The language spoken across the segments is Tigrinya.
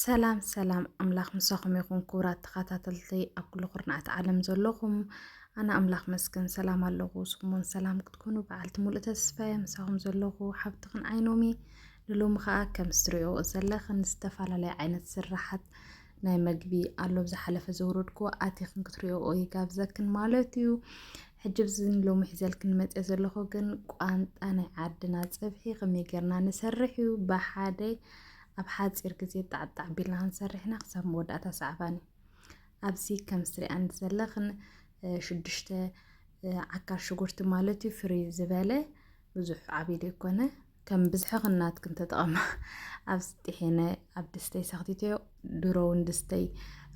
ሰላም ሰላም ኣምላኽ ምሳኹም ይኹን ክቡራት ተኸታተልቲ ኣብ ኩሉ ኩርናዓት ዓለም ዘለኹም ኣነ ኣምላኽ መስገን ሰላም ኣለኹ ስኹምን ሰላም ክትኮኑ በዓልቲ ሙሉእ ተስፋየ ምሳኹም ዘለኹ ሓብትኽን ዓይኖሚ ንሎሚ ከዓ ከም ዝትሪኦ ዘለኽን ዝተፈላለየ ዓይነት ስራሓት ናይ መግቢ ኣሎ ብዝሓለፈ ዘውረድኩ ኣቲኽን ክትሪኦ ይጋብዘክን ማለት እዩ ሕጂ ብዚ ሎሚ ሒዘልክን መፀ ዘለኹ ግን ቋንጣ ናይ ዓድና ፀብሒ ከመይ ጌርና ንሰርሕ እዩ ብሓደ ኣብ ሓጺር ግዜ ጣዕጣዕ ቢልና ክንሰርሕ ኢና ክሳብ መወዳእታ ሰዓባኒ ኣብዚ ከም ስሪኣን ዘለኽን ሽዱሽተ ዓካር ሽጉርቲ ማለት እዩ ፍሪ ዝበለ ብዙሕ ዓብዪ ዘይኮነ ከም ብዝሒ ክናትክን ተጠቐማ ኣብ ስጢሒነ ኣብ ድስተይ ሰኽቲተዮ ድሮ እውን ድስተይ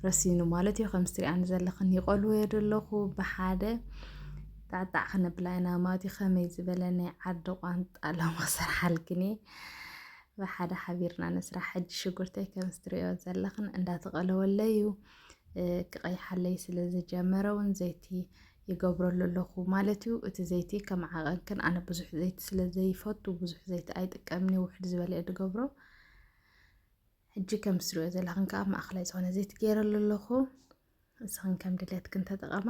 ረሲኑ ማለት እዩ ከም ስሪኣን ዘለኽን ይቐልዎ ዘለኹ ብሓደ ጣዕጣዕ ክነብላ ኢና ማለት እዩ ከመይ ዝበለ ናይ ዓዲ ቋንጣ ሎማ ክሰርሓልክን እየ ብሓደ ሓቢርና ንስራሕ ሕጂ ሽጉርተይ ከምስ ትሪኦ ዘለኽን እንዳተቐለወለይ እዩ ክቐይሓለይ ስለ ዝጀመረ እውን ዘይቲ ይገብረሉ ኣለኹ ማለት እዩ እቲ ዘይቲ ከም ዓቐንክን ኣነ ብዙሕ ዘይቲ ስለ ዘይፈቱ ብዙሕ ዘይቲ ኣይጥቀምኒ ውሕድ ዝበለ እየ ዝገብሮ ሕጂ ከም ስሪኦ ዘለኽን ከዓ ማእኸላይ ዝኾነ ዘይቲ ገይረሉ ኣለኹ ንስኽን ከም ድሌትክን ተጠቐማ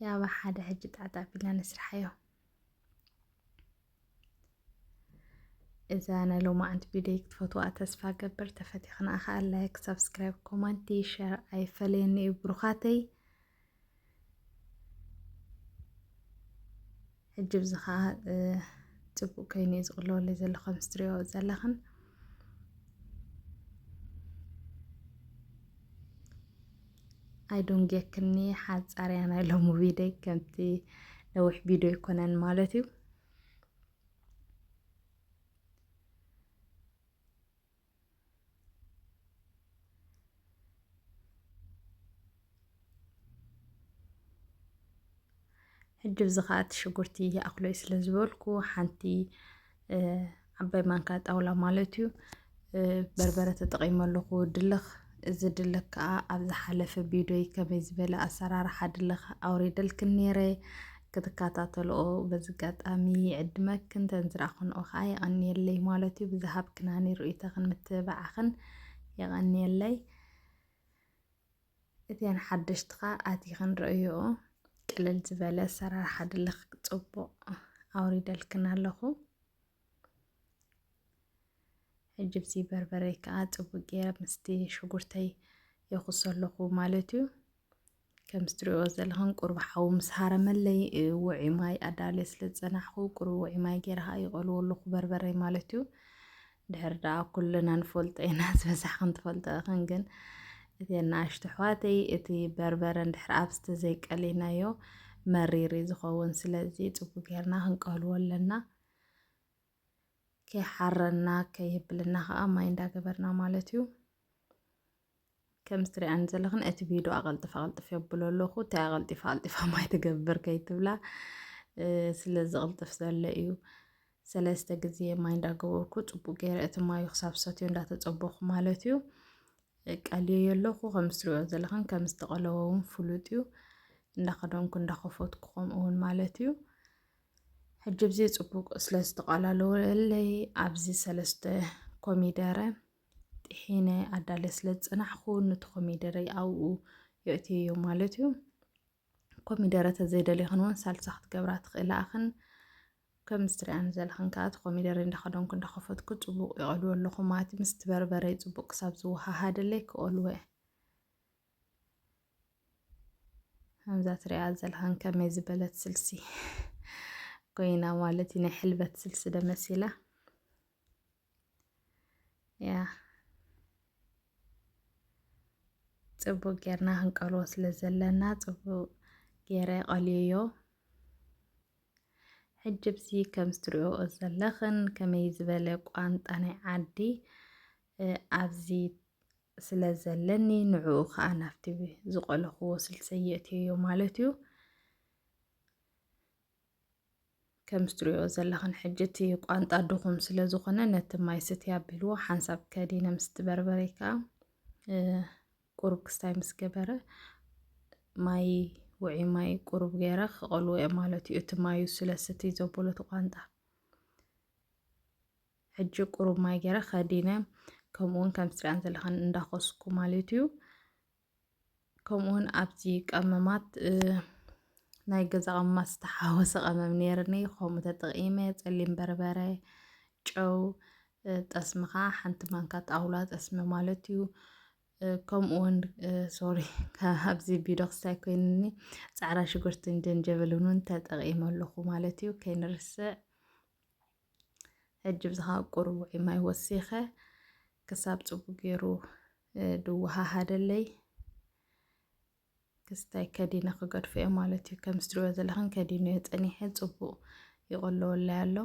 ያባ ሓደ ሕጂ ጣዕጣዕ ቢልና ንስርሓዮ እዛ ናይ ሎማዓንቲ ቪድዮ ክትፈትዋ ተስፋ ገብር ተፈቲኽና ከዓ ላይክ ሳብስክራይብ ኮማንቲ ሸር ኣይፈለየኒ እዩ ብሩኻተይ ሕጂ ብዚ ከዓ ፅቡቅ ኮይኑ እዩ ዝቅለወለይ ዘሎ ከም ስትሪኦ ዘለኽን ኣይዶንጌክኒ ሓፃርያ ናይ ሎሚ ቪድዮ ከምቲ ነዊሕ ቪድዮ ይኮነን ማለት እዩ ሕጂ ብዚ ከኣ እቲ ሽጉርቲ ይኣኽሎይ ስለ ዝበልኩ ሓንቲ ዓባይ ማንካ ጣውላ ማለት እዩ በርበረ ተጠቒመ ኣለኹ ድልኽ እዚ ድልኽ ከዓ ኣብ ዝሓለፈ ቪድዮይ ከመይ ዝበለ ኣሰራርሓ ድልኽ ኣውሪደልክን ነይረ ክትከታተልኦ በዚ ኣጋጣሚ ይዕድመክን ተንዝራኽንኦ ከዓ የቐንየለይ ማለት እዩ ብዝሃብክናኒ ርእይቶኽን ምትብባዕኽን የቐንየለይ እተን ሓደሽቲ ከዓ ኣቲኽን ርእዮኦ ቅልል ዝበለ ኣሰራርሓ ድልኽ ፅቡቕ ኣውሪደልክን ኣለኹ ሕጂ ብዚ በርበረይ ከዓ ፅቡቅ ገይረ ምስቲ ሽጉርተይ የኹሶ ኣለኹ ማለት እዩ። ከምዚ ትሪእዎ ዘለኹም ቁርብ ሓዊ ምስ ሃረመለይ ውዒ ማይ ኣዳልየ ስለ ዝፀናሕኹ ቁርብ ውዒ ማይ ገይረ ከዓ ይቐልዎ ኣለኹ በርበረይ ማለት እዩ። ድሕር ደኣ ኩልና ንፈልጦ ኢና ዝበዛሕ ክንትፈልጦ እኽን ግን እተን ንኣሽቱ ኣሕዋተይ እቲ በርበረ እንድሕር ኣብዚ ተዘይቀሊናዮ መሪር እዩ ዝኸውን ስለዚ ፅቡቅ ጌርና ክንቀልዎ ኣለና ከይሓረና ከይብልና ከዓ ማይ እንዳገበርና ማለት እዩ ከም ዝትሪኣኒ ዘለኽን እቲ ቪድዮ ኣቐልጥፍ ኣቐልጥፍ የብሎ ኣለኹ እንታይ ኣቐልጢፋ ኣቐልጢፋ ማይ ትገብር ከይትብላ ስለ ዝቕልጥፍ ዘሎ እዩ ሰለስተ ግዜ ማይ እንዳገበርኩ ፅቡቅ ገይረ እቲ ማዩ ክሳብ ሰትዮ እንዳተፀበኹ ማለት እዩ የቃልዮ የለኹ ከም ዝትሪኦ ዘለኽን ከም ዝተቐለወ እውን ፍሉጥ እዩ እንዳኸደንኩ እንዳኸፈትኩ ከምኡ እውን ማለት እዩ ሕጂ ብዚ ፅቡቅ ስለ ዝተቐላለወለይ ኣብዚ ሰለስተ ኮሚደረ ጢሒነ ኣዳለ ስለ ዝፅናሕኩ ንቲ ኮሚደረይ ኣብኡ የእትየዮ ማለት እዩ ኮሚደረ ተዘይደልኽን እውን ሳልሳ ክትገብራ ትኽእላ ኣኽን ከምዚ ትሪኣን ዘለኽን ከዓ እቲ ኮሚደረ እንዳኸደንኩ እንዳኸፈትኩ ፅቡቅ ይቐልዎ ኣለኹ ማለት ምስ በርበረይ ፅቡቅ ክሳብ ዝወሃሃደለይ ክቐልወ ከምዛ ትሪኣ ዘለኽን ከመይ ዝበለት ስልሲ ኮይና ማለት እዩ ናይ ሕልበት ስልሲ ደመሲላ ያ ጽቡቅ ጌርና ክንቀልዎ ስለ ዘለና ጽቡቅ ጌረ ቀልዮዮ ሕጂ ብዚ ከም ዝትሪኦ ዘለኽን ከመይ ዝበለ ቋንጣ ናይ ዓዲ ኣብዚ ስለ ዘለኒ ንዕኡ ከዓ ናብቲ ዝቆለኽዎ ስልሰ የእትዮዮ ማለት እዩ ከም ዝትሪኦ ዘለኽን ሕጂ እቲ ቋንጣ ድኹም ስለ ዝኾነ ነቲ ማይ ስቲ ኣቢልዎ ሓንሳብ ከዲነ ምስ ትበርበረ ከዓ ቁሩብ ክስታይ ምስ ገበረ ማይ ውዒ ማይ ቁሩብ ገይረ ክቐልዎ እየ ማለት እዩ እቲ ማዩ ስለ ስቲ ዘበሎ እቲ ቋንጣ ሕጂ ቁሩብ ማይ ገይረ ከዲነ ከምኡውን ከም ስትሪያን ዘለኽን እንዳኾስኩ ማለት እዩ ከምኡ ውን ኣብዚ ቀመማት ናይ ገዛ ቀመማት ዝተሓወሰ ቀመም ነይርኒ ከምኡ ተጠቒመ ጸሊም በርበረ ጨው ጠስሚ ከዓ ሓንቲ ማንካ ጣውላ ጠስሚ ማለት እዩ ከምኡ ውን ሶሪ ኣብዚ ቢዶ ክስታይ ኮይንኒ ፃዕራ ሽጉርትን ጀንጀብልን ውን ተጠቒመ ኣለኹ ማለት እዩ ከይንርስዕ ሕጂ ብዝኻ ቁሩብ ውዒ ማይ ወሲኸ ክሳብ ፅቡቅ ገይሩ ድወሃሃደለይ ክስታይ ከዲነ ክገድፎ እየ ማለት እዩ ከም ዝትሪኦ ዘለኽን ከዲኑ እየ ፀኒሐ ፅቡቅ ይቆለወላይ ኣሎ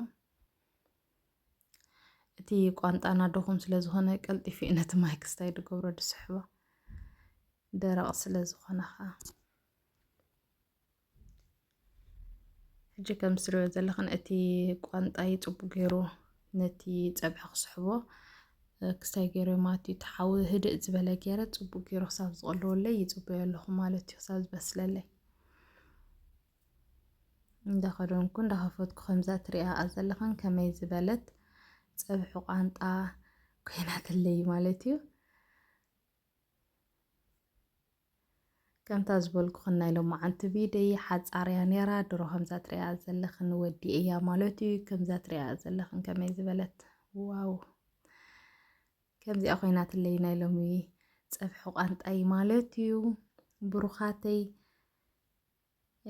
እቲ ቋንጣና ድኹም ስለዝኾነ ቀልጢፉ እዩ ነቲ ማይ ክስታይ ድገብሮ ድስሕቦ ደረቕ ስለዝኾነ ኸዓ ሕጂ ከም ዝሪኦ ዘለኽን እቲ ቋንጣይ ፅቡቅ ገይሩ ነቲ ፀብሒ ክስሕቦ ክስታይ ገይሩ ማለት እዩ። ተሓዊ ህድእ ዝበለ ገይረ ፅቡቅ ገይሩ ክሳብ ዝቐለወለይ ይፅበዮ ኣለኹ ማለት እዩ። ክሳብ ዝበስለለይ እንዳኸደንኩ እንዳኸፈትኩ ከምዛ ትሪኣ ዘለኽን ከመይ ዝበለት ፀብሒ ቋንጣ ኮይናትለይ ማለት እዩ። ከምታ ዝበልኩኽን ናይ ሎማዓንቲ ቪደይ ሓፃር እያ ነይራ ድሮ ከምዛ ትሪኣ ዘለኽን ወዲ እያ ማለት እዩ ከምዛ ትሪኣ ዘለኽን ከመይ ዝበለት ዋው ከምዚኣ ኮይናትለይ ናይ ሎሚ ፀብሒ ቋንጣይ ማለት እዩ ብሩኻተይ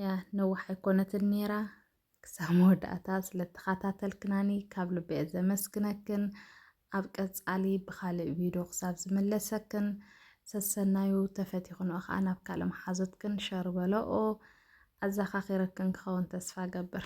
ያ ነዋሕ ኣይኮነትን ኔራ ክሳብ መወዳእታ ስለተኸታተልክናኒ ካብ ልበየ ዘመስግነክን ኣብ ቀጻሊ ብኻልእ ቪድዮ ክሳብ ዝምለሰክን ሰሰናዩ ተፈቲኽንኦ ከዓ ናብ ካልእ መሓዙትክን ሸር በለኦ ኣዘኻኺረክን ክኸውን ተስፋ ገብር